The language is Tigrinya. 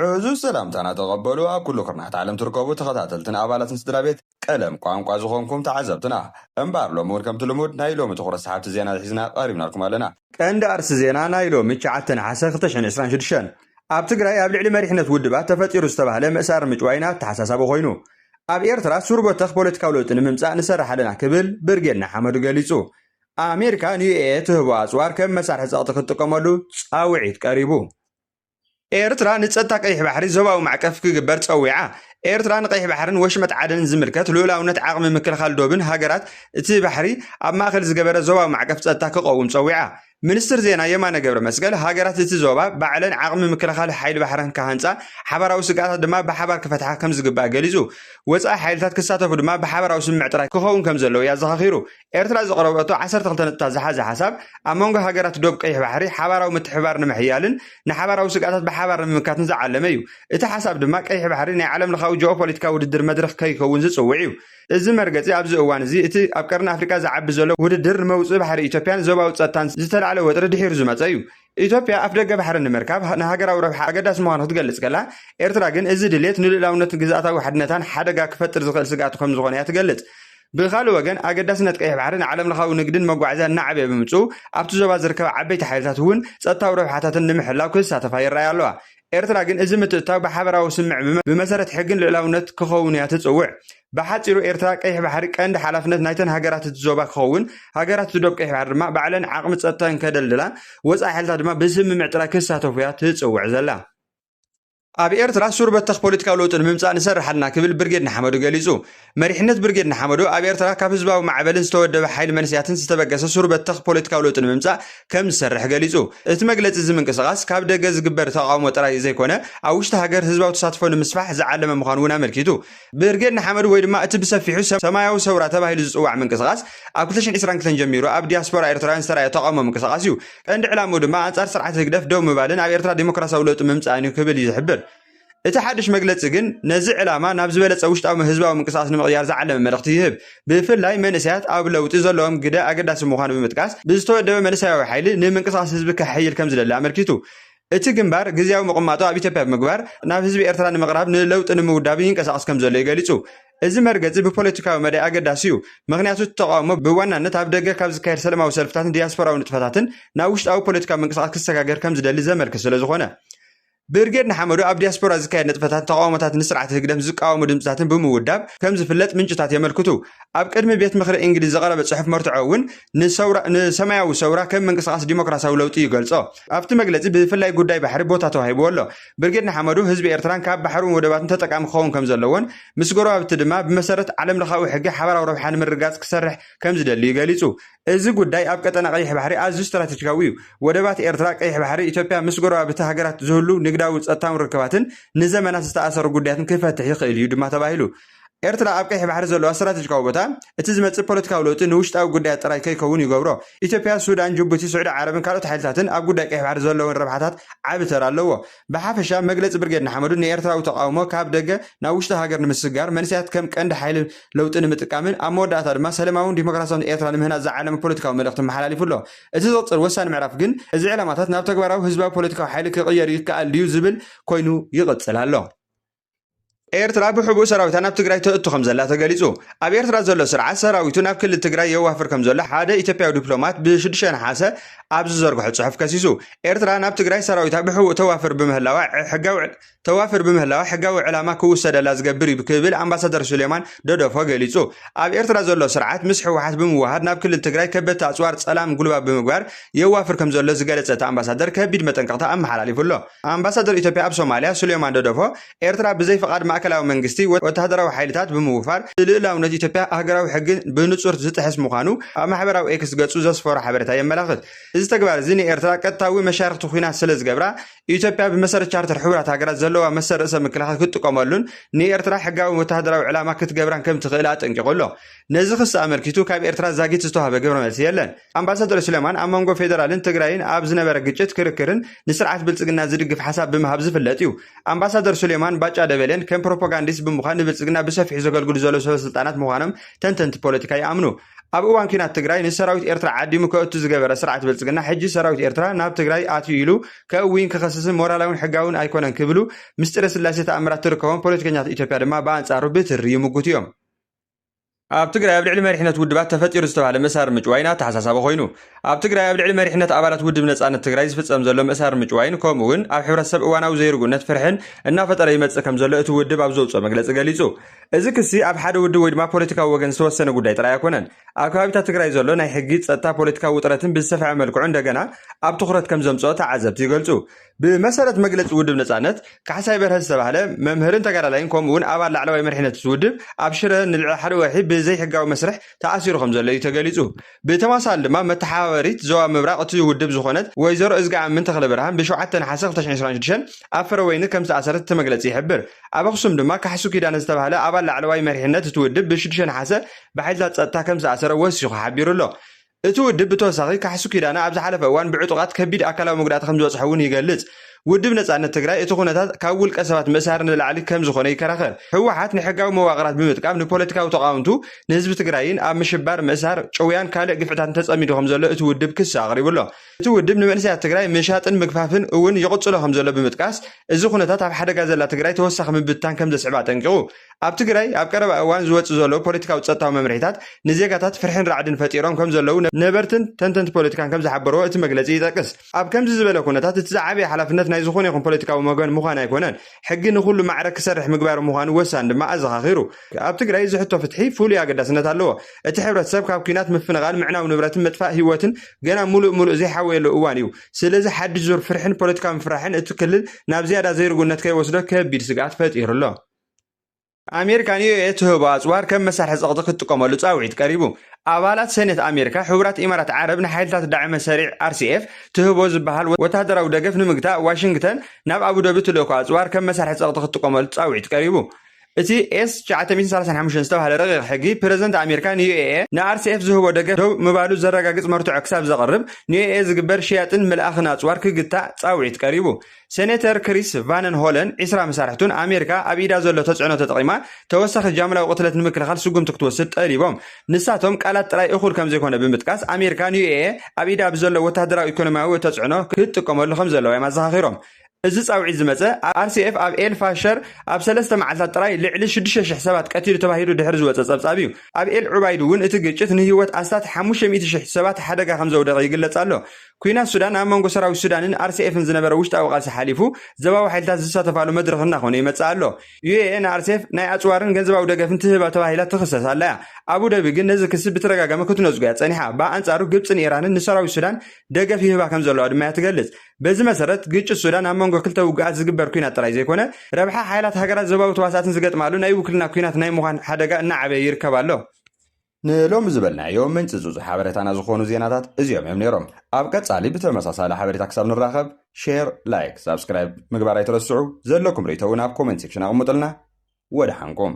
ዕዙዝ ሰላምታና ተቐበሉ ኣብ ኩሉ ኩርናዓት ዓለም ትርከቡ ተኸታተልትን ኣባላትን ስድራቤት ቀለም ቋንቋ ዝኾንኩም ተዓዘብትና። እምበኣር ሎሚ ውን ከምቲ ልሙድ ናይ ሎሚ ትኹረት ሰሓብቲ ዜና ሒዝና ቀሪብናልኩም ኣለና። ቀንዲ ኣርእስቲ ዜና ናይ ሎሚ ትሽዓተ ነሓሰ ክልተ ሽሕን ዕስራን ሽዱሽተን ኣብ ትግራይ ኣብ ልዕሊ መሪሕነት ውድባት ተፈጢሩ ዝተባህለ ምእሳርን ምጭዋይን ኣተሓሳሳቢ ኮይኑ ኣብ ኤርትራ ሱር በተኽ ፖለቲካዊ ለውጢ ንምምጻእ ንሰርሕ ኣለና ክብል ብርጌድ ንሓመዱ ገሊጹ። ኣሜሪካ ንዩኤኤ ትህቦ ኣጽዋር ከም መሳርሒ ጸቕጢ ክትጥቀመሉ ጻውዒት ቀሪቡ። ኤርትራ ንጸጥታ ቀይሕ ባሕሪ ዞባዊ ማዕቀፍ ክግበር ጸዊዓ። ኤርትራ ንቀይሕ ባሕርን ወሽመጥ ዓደንን ዝምልከት ልኡላውነት ዓቕሚ ምክልኻል ዶብን ሃገራት እቲ ባሕሪ ኣብ ማእከል ዝገበረ ዞባዊ ማዕቀፍ ጸጥታ ክቐውም ጸዊዓ። ሚኒስትር ዜና የማነ ገብረመስቀል፣ ሃገራት እቲ ዞባ ባዕለን ዓቕሚ ምክልኻል ሓይሊ ባሕረን ክሃንጻ፣ ሓባራዊ ስግኣታት ድማ ብሓባር ክፈትሓ ከምዝግባእ ገሊጹ። ወጻኢ ሓይልታት ክሳተፉ ድማ ብሓባራዊ ስምምዕ ጥራይ ክኸውን ከምዘለዎ እዩ ኣዘኻኺሩ። ኤርትራ ዘቕረበቶ ዓሰርተ ክልተ ነጥብታት ዝሓዘ ሓሳብ፣ ኣብ መንጎ ሃገራት ዶብ ቀይሕ ባሕሪ ሓባራዊ ምትሕብባር ንምሕያልን ንሓባራዊ ስግኣታት ብሓባር ንምምካትን ዝዓለመ እዩ። እቲ ሓሳብ ድማ ቀይሕ ባሕሪ ናይ ዓለምለኻዊ ጂኦፖለቲካዊ ውድድር መድረኽ ከይከውን ዝጽውዕ እዩ። እዚ መርገጺ ኣብዚ እዋን እዚ እቲ ኣብ ቀርኒ ኣፍሪቃ ዝዓቢ ዘሎ ውድድር ንመውጽኢ ባሕሪ ኢትዮጵያን ዞባዊ ጸጥታን ዝተላዕለ ወጥሪ ድሒሩ ዝመጸ እዩ። ኢትዮጵያ ኣፍደገ ባሕሪ ንምርካብ ንሃገራዊ ረብሓ ኣገዳሲ ምዃኑ ክትገልጽ ከላ፣ ኤርትራ ግን እዚ ድሌት ንልኡላውነትን ግዝኣታዊ ሓድነታን ሓደጋ ክፈጥር ዝኽእል ስግኣት ከም ዝኾነ እያ ትገልጽ። ብኻልእ ወገን፣ ኣገዳስነት ቀይሕ ባሕሪ ንዓለምለኻዊ ንግድን መጓዓዝያን እናዓበየ ብምምጽኡ፣ ኣብቲ ዞባ ዝርከባ ዓበይቲ ሓይልታት እውን ጸጥታዊ ረብሓታተን ንምሕላው ክሳተፋ ይረኣያ ኣለዋ። ኤርትራ ግን እዚ ምትእትታው ብሓበራዊ ስምምዕ ብመሰረት ሕግን ልእላውነት ክኸውን እያ ትጽውዕ። ብሓጺሩ ኤርትራ ቀይሕ ባሕሪ ቀንዲ ሓላፍነት ናይተን ሃገራት እቲ ዞባ ክኸውን፣ ሃገራት እቲ ዶብ ቀይሕ ባሕሪ ድማ ባዕለን ዓቕሚ ጸጥታን ከደልድላ፣ ወጻኢ ሓይልታት ድማ ብስምምዕ ጥራይ ክሳተፉ እያ ትጽውዕ ዘላ። ኣብ ኤርትራ ሱር በተኽ ፖለቲካዊ ለውጢ ንምምጻእ ንሰርሕ ኣለና ክብል ብርጌድ ንሓመዱ ገሊጹ። መሪሕነት ብርጌድ ንሓመዱ ኣብ ኤርትራ ካብ ህዝባዊ ማዕበልን ዝተወደበ ሓይሊ መንስያትን ዝተበገሰ ሱር በተኽ ፖለቲካዊ ለውጢ ንምምጻእ ከም ዝሰርሕ ገሊጹ። እቲ መግለጺ እዚ ምንቅስቓስ ካብ ደገ ዝግበር ተቓውሞ ጥራይ ዘይኮነ ኣብ ውሽጢ ሃገር ህዝባዊ ተሳትፎ ንምስፋሕ ዝዓለመ ምዃኑ እውን ኣመልኪቱ። ብርጌድ ንሓመዱ ወይ ድማ እቲ ብሰፊሑ ሰማያዊ ሰውራ ተባሂሉ ዝጽዋዕ ምንቅስቓስ ኣብ ክልተ ሽሕን ዕስራን ክልተን ጀሚሩ ኣብ ዲያስፖራ ኤርትራውያን ዝተራእየ ተቓውሞ ምንቅስቓስ እዩ። ቀንዲ ዕላምኡ ድማ ኣንጻር ስርዓት ህግደፍ ደው ምባልን ኣብ ኤርትራ ደሞክራስያዊ ለውጢ ምምጻእን እዩ ክብል እዩ ዝሕብር። እቲ ሓድሽ መግለጺ ግን ነዚ ዕላማ ናብ ዝበለጸ ውሽጣዊ ህዝባዊ ምንቅስቓስ ንምቕያር ዝዓለመ መልእኽቲ ይህብ። ብፍላይ መንእሰያት ኣብ ለውጢ ዘለዎም ግደ ኣገዳሲ ምዃኑ ብምጥቃስ፣ ብዝተወደበ መንእሰያዊ ሓይሊ ንምንቅስቓስ ህዝቢ ከሐይል ከም ዝደሊ ኣመልኪቱ። እቲ ግንባር ግዝያዊ ምቕማጡ ኣብ ኢትዮጵያ ብምግባር ናብ ህዝቢ ኤርትራ ንምቕራብ ንለውጢ ንምውዳብን ይንቀሳቐስ ከም ዘሎ'ዩ ገሊጹ። እዚ መርገጺ ብፖለቲካዊ መዳይ ኣገዳሲ'ዩ፣ ምኽንያቱ እቲ ተቓውሞ ብዋናነት ኣብ ደገ ካብ ዝካየድ ሰለማዊ ሰልፍታትን ዲያስፖራዊ ንጥፈታትን ናብ ውሽጣዊ ፖለቲካዊ ምንቅስቓስ ክሰጋገር ከም ዝደሊ ዘመልክት ስለ ዝኾነ። ብርጌድ ንሓመዱ ኣብ ዲያስፖራ ዝካየድ ንጥፈታትን ተቓውሞታት ንስርዓት ህግደፍ ዝቃወሙ ድምጽታትን ብምውዳብ ከም ዝፍለጥ ምንጭታት የመልክቱ። ኣብ ቅድሚ ቤት ምኽሪ እንግሊዝ ዝቐረበ ጽሑፍ መርትዖ እውን ንሰውራ ንሰማያዊ ሰውራ ከም ምንቅስቓስ ዲሞክራሲያዊ ለውጢ ይገልጾ። ኣብቲ መግለጺ ብፍላይ ጉዳይ ባሕሪ ቦታ ተዋሂብዎ ኣሎ። ብርጌድ ንሓመዱ ህዝቢ ኤርትራን ካብ ባሕሩን ወደባቱን ተጠቃሚ ክኸውን ከም ዘለዎን ምስ ጎረባብቲ ድማ ብመሰረት ዓለምለኻዊ ሕጊ ሓባራዊ ረብሓ ንምርግጋጽ ክሰርሕ ከም ዝደልዩ ገሊጹ። እዚ ጉዳይ ኣብ ቀጠና ቀይሕ ባሕሪ ኣዝዩ ስትራተጂካዊ እዩ። ወደባት ኤርትራ፣ ቀይሕ ባሕሪ፣ ኢትዮጵያ ምስ ጎረባብቲ ሃገራት ዝህሉ ንግዳዊ ጸጥታውን ርክባትን ንዘመናት ዝተኣሰሩ ጉዳያትን ክፈትሕ ይኽእል እዩ ድማ ተባሂሉ። ኤርትራ ኣብ ቀይሕ ባሕሪ ዘለዋ ስትራተጂካዊ ቦታ፣ እቲ ዝመጽእ ፖለቲካዊ ለውጢ ንውሽጣዊ ጉዳያት ጥራይ ከይከውን ይገብሮ። ኢትዮጵያ፣ ሱዳን፣ ጅቡቲ፣ ስዑዲ ዓረብን ካልኦት ሓይልታትን ኣብ ጉዳይ ቀይሕ ባሕሪ ዘለወን ረብሓታት ዓቢ ተራ ኣለዎ። ብሓፈሻ መግለጺ ብርጌድ ንሓመዱ ንኤርትራዊ ተቓውሞ ካብ ደገ ናብ ውሽጢ ሃገር ንምስግጋር፣ መንእሰያት ከም ቀንዲ ሓይሊ ለውጢ ንምጥቃምን ኣብ መወዳእታ ድማ ሰለማውን ዲሞክራስያውን ኤርትራ ንምህናጽ ዝዓለመ ፖለቲካዊ መልእኽቲ ኣመሓላሊፉ ኣሎ። እቲ ዝቕጽል ወሳኒ ምዕራፍ ግን እዚ ዕላማታት ናብ ተግባራዊ ህዝባዊ ፖለቲካዊ ሓይሊ ክቕየር ይከኣል ድዩ ዝብል ኮይኑ ይቕጽል ኣሎ። ኤርትራ ብሕቡእ ሰራዊታ ናብ ትግራይ ተእቱ ከም ዘላ ተገሊጹ። ኣብ ኤርትራ ዘሎ ስርዓት ሰራዊቱ ናብ ክልል ትግራይ የዋፍር ከም ዘሎ ሓደ ኢትዮጵያዊ ዲፕሎማት ብ6 ነሓሰ ኣብ ዝዘርግሖ ጽሑፍ ከሲሱ። ኤርትራ ናብ ትግራይ ሰራዊታ ብሕቡእ ተዋፍር ብምህላዋ ሕጋዊ ተዋፍር ብምህላዋ ሕጋዊ ዕላማ ክውሰደላ ዝገብር እዩ ክብል ኣምባሳደር ሱሌማን ደዶፎ ገሊጹ። ኣብ ኤርትራ ዘሎ ስርዓት ምስ ህወሓት ብምውሃድ ናብ ክልል ትግራይ ከበድቲ ኣጽዋር ጸላም ጉልባብ ብምግባር የዋፍር ከም ዘሎ ዝገለጸ እቲ ኣምባሳደር ከቢድ መጠንቀቕታ ኣመሓላሊፉ ኣሎ። ኣምባሳደር ኢትዮጵያ ኣብ ሶማልያ ሱሌማን ደዶፎ፣ ኤርትራ ብዘይ ፍቓድ ማእከላዊ መንግስቲ ወተሃደራዊ ሓይልታት ብምውፋር፣ ልኡላውነት ኢትዮጵያ ኣህገራዊ ሕጊ ብንጹር ዝጥሕስ ምዃኑ ኣብ ማሕበራዊ ኤክስ ገጹ ዘስፈሮ ሓበሬታ የመላኽት። እዚ ተግባር'ዚ ንኤርትራ ቀጥታዊ መሻርኽቲ ኲናት ስለዝገብራ፣ ኢትዮጵያ ብመሰረት ቻርተር ሕቡራት ሃገራት ዘለዋ መሰል ርእሰ ምክልኻል ክትጥቀመሉን ንኤርትራ ሕጋዊ ወተሃደራዊ ዕላማ ክትገብራን ከምትኽእል ኣጠንቂቑ ኣሎ። ነዚ ክሲ ኣመልኪቱ ካብ ኤርትራ ዛጊት ዝተዋህበ ግብረ መልሲ የለን። ኣምባሳደር ሱሌማን ኣብ መንጎ ፌደራልን ትግራይን ኣብ ዝነበረ ግጭት ክርክርን ንስርዓት ብልፅግና ዝድግፍ ሓሳብ ብምሃብ ዝፍለጥ እዩ። ኣምባሳደር ሱሌማን ባጫ ደበሌን ከም ፕሮፖጋንዲስት ብምዃን ንብልፅግና ብሰፊሑ ዘገልግሉ ዘለዉ ሰበስልጣናት ምዃኖም ተንተንቲ ፖለቲካ ይኣምኑ። ኣብ እዋን ኲናት ትግራይ ንሰራዊት ኤርትራ ዓዲሙ ከእቱ ዝገበረ ስርዓት ብልፅግና ሕጂ ሰራዊት ኤርትራ ናብ ትግራይ ኣትዩ ኢሉ ከእውይን ክኸስስን ሞራላዊን ሕጋዊን ኣይኮነን ክብሉ ምስጢረ ስላሴ ተኣምራት ትርከቦም ፖለቲከኛታት ኢትዮጵያ ድማ ብኣንፃሩ ብትሪ ይምጉቱ እዮም። ኣብ ትግራይ ኣብ ልዕሊ መሪሕነት ውድባት ተፈጢሩ ዝተባሃለ ምእሳር ምጭዋይን ኣተሓሳሳቢ ኮይኑ ኣብ ትግራይ ኣብ ልዕሊ መሪሕነት ኣባላት ውድብ ነፃነት ትግራይ ዝፍፀም ዘሎ ምእሳር ምጭዋይን ከምኡ እውን ኣብ ሕብረተሰብ እዋናዊ ዘይርጉእነት ፍርሕን እናፈጠረ ይመፅእ ከም ዘሎ እቲ ውድብ ኣብ ዘውፅኦ መግለፂ ገሊፁ እዚ ክሲ ኣብ ሓደ ውድብ ወይ ድማ ፖለቲካዊ ወገን ዝተወሰነ ጉዳይ ጥራይ ኣይኮነን ኣብ ከባቢታት ትግራይ ዘሎ ናይ ሕጊ ፀጥታ ፖለቲካዊ ውጥረትን ብዝሰፍሐ መልክዑ እንደገና ኣብ ትኹረት ከም ዘምፅኦ ተዓዘብቲ ይገልፁ ብመሰረት መግለፂ ውድብ ነፃነት፣ ካሕሳይ በርሀ ዝተባህለ መምህርን ተጋዳላይን ከምኡ እውን ኣባል ላዕለዋይ መሪሕነት እቲ ውድብ ኣብ ሽረ ንልዕሊ ሓደ ወርሒ ብዘይሕጋዊ መስርሕ ተኣሲሩ ከምዘሎ እዩ ተገሊፁ። ብተመሳሳሊ ድማ መተሓባበሪት ዞባ ምብራቕ እቲ ውድብ ዝኾነት ወይዘሮ እዝግኣምን ተኽለብርሃን ብ ሸውዓተ ነሓሰ ክልተ ሽሕን ዕስራን ሽዱሽተን ኣብ ፍረወይኒ ከምዝተኣሰረት እቲ መግለፂ ይሕብር። ኣብ ኣኽሱም ድማ ካሕሱ ኪዳነ ዝተባህለ ኣባል ላዕለዋይ መሪሕነት እቲ ውድብ ብ ሽዱሽተ ነሓሰ ብሓይልታት ፀጥታ ከምዝተኣሰረ ወሲኹ ሓቢሩ ኣሎ። እቲ ውድብ ብተወሳኺ ካሕሱ ኪዳነ ኣብ ዝሓለፈ እዋን ብዕጡቓት ከቢድ ኣካላዊ መጉዳእቲ ከምዝበፅሖ እውን ይገልፅ። ውድብ ነፃነት ትግራይ እቲ ኩነታት ካብ ውልቀ ሰባት ምእሳር ንላዕሊ ከምዝኾነ ይከራኸር። ህወሓት ንሕጋዊ መዋቕራት ብምጥቃም ንፖለቲካዊ ተቓወምቱ፣ ንህዝቢ ትግራይን ኣብ ምሽባር፣ ምእሳር፣ ጭውያን ካልእ ግፍዕታትን ተፀሚዱ ከምዘሎ እቲ ውድብ ክሲ ኣቕሪቡ ኣሎ። እቲ ውድብ ንመንእሰያት ትግራይ ምሻጥን ምግፋፍን እውን ይቕፅሎ ከምዘሎ ብምጥቃስ እዚ ኩነታት ኣብ ሓደጋ ዘላ ትግራይ ተወሳኺ ምብትታን ከምዘስዕብ ኣጠንቂቑ። ኣብ ትግራይ ኣብ ቀረባ እዋን ዝወፅእ ዘሎ ፖለቲካዊ ፀጥታዊ መምርሒታት ንዜጋታት ፍርሒን ራዕድን ፈጢሮም ከምዘለዉ ነበርትን ተንተንቲ ፖለቲካን ከምዝሓበርዎ እቲ መግለፂ ይጠቅስ። ኣብ ከምዚ ዝበለ ኩነታት እቲ ዝዓበየ ሓላፍነት ናይ ዝኾነ ይኹን ፖለቲካዊ ወገን ምዃን ኣይኮነን፣ ሕጊ ንኹሉ ማዕረ ክሰርሕ ምግባር ምዃኑ ወሳኒ ድማ ኣዘኻኺሩ። ኣብ ትግራይ እዚ ሕቶ ፍትሒ ፍሉይ ኣገዳስነት ኣለዎ። እቲ ሕብረተሰብ ካብ ኲናት፣ ምፍንቓል፣ ምዕናው ንብረትን ምጥፋእ ህይወትን ገና ሙሉእ ሙሉእ ዘይሓወየሉ እዋን እዩ። ስለዚ ሓድሽ ዙር ፍርሒን ፖለቲካዊ ምፍርራሕን እቲ ክልል ናብ ዝያዳ ዘይርጉእነት ከይወስዶ ከቢድ ስግኣት ፈጢሩ ኣሎ። ኣሜሪካ ንዩኤ ትህቦ ኣጽዋር ከም መሳርሒ ጸቕጢ ክትጥቀመሉ ጻውዒት ቀሪቡ። ኣባላት ሰኔት ኣሜሪካ፣ ሕቡራት ኢማራት ዓረብ ንሓይልታት ዳዕመ ሰሪዕ፣ RCF፣ ትህቦ ዝበሃል ወተሃደራዊ ደገፍ ንምግታእ ዋሽንግተን ናብ ኣቡዳቢ ትልእኮ ኣጽዋር ከም መሳርሒ ጸቕጢ ክትጥቀመሉ ጻውዒት ቀሪቡ። እቲ ኤስ ትሽዓተ ሚእትን ሰላሳን ሓሙሽተን ዝተባህለ ረቂቕ ሕጊ፣ ፕረዚደንት ኣሜሪካ ንዩኤ ንኣርሲኤፍ ዝህቦ ደገፍ ደው ምባሉ ዘረጋግጽ መርትዖ ክሳብ ዘቕርብ፣ ንዩኤ ዝግበር ሽያጥን ምልኣኽን ኣጽዋር ክግታእ ጻውዒት ቀሪቡ። ሴኔተር ክሪስ ቫንን ሆለን ዒስራ መሳርሕቱን ኣሜሪካ ኣብ ኢዳ ዘሎ ተፅዕኖ ተጠቒማ ተወሳኺ ጃምላዊ ቅትለት ንምክልኻል ስጉምቲ ክትወስድ ጠሊቦም። ንሳቶም ቃላት ጥራይ እኹል ከምዘይኮነ ብምጥቃስ ኣሜሪካ ንዩኤ ኣብ ኢዳ ብዘሎ ወታሃደራዊ ኢኮኖሚያዊ ተፅዕኖ ክትጥቀመሉ ከምዘለዋ እዮም ኣዘኻኺሮም። እዚ ፃውዒት ዝመፀ RCF ኣብ ኤል ፋሸር ኣብ ሰለስተ መዓልታት ጥራይ ልዕሊ ሽዱሽተ ሽሕ ሰባት ቀቲሉ ተባሂሉ ድሕሪ ዝወፀ ፀብፃብ እዩ። ኣብ ኤል ዑባይድ እውን እቲ ግጭት ንህይወት ኣስታት ሓሙሽተ ሚእቲ ሽሕ ሰባት ሓደጋ ከምዘውደቐ ይግለፅ ኣሎ። ኲናት ሱዳን ኣብ መንጎ ሰራዊት ሱዳንን ኣርሰኤፍን ዝነበረ ውሽጣዊ ቃልሲ ሓሊፉ ዘባዊ ሓይልታት ዝሳተፋሉ መድረኽ እናኾነ ይመጽእ ኣሎ። ዩኤኤ ንኣርሴፍ ናይ ኣጽዋርን ገንዘባዊ ደገፍን ትህባ ተባሂላ ትኽሰስ ኣላ'ያ። ኣቡደቢ ግን ነዚ ክሲ ብተደጋጋሚ ክትነጽጎ'ያ ጸኒሓ። ብኣንጻሩ ግብጽን ኢራንን ንሰራዊት ሱዳን ደገፍ ይህባ ከምዘለዋ ድማ'ያ ትገልጽ። በዚ መሰረት ግጭት ሱዳን ኣብ መንጎ ክልተ ውጉኣት ዝግበር ኲናት ጥራይ ዘይኮነ፣ ረብሓ ሓይላት ሃገራት ዞባዊ ተዋሳእትን ዝገጥማሉ ናይ ውክልና ኲናት ናይ ምዃን ሓደጋ እናዓበየ ይርከብ ኣሎ። ንሎሚ ዝበልናዮ ምንጪ ጽጹ ሓበሬታና ዝኾኑ ዜናታት እዚኦም እዮም ነይሮም። ኣብ ቀጻሊ ብተመሳሳሊ ሓበሬታ ክሳብ ንራኸብ ሼር ላይክ ሳብስክራይብ ምግባር ኣይትረስዑ ዘለኩም ርእይቶ ውን ኣብ ኮመንት ሴክሽን ኣቕሙጥልና ወደሓንኩም።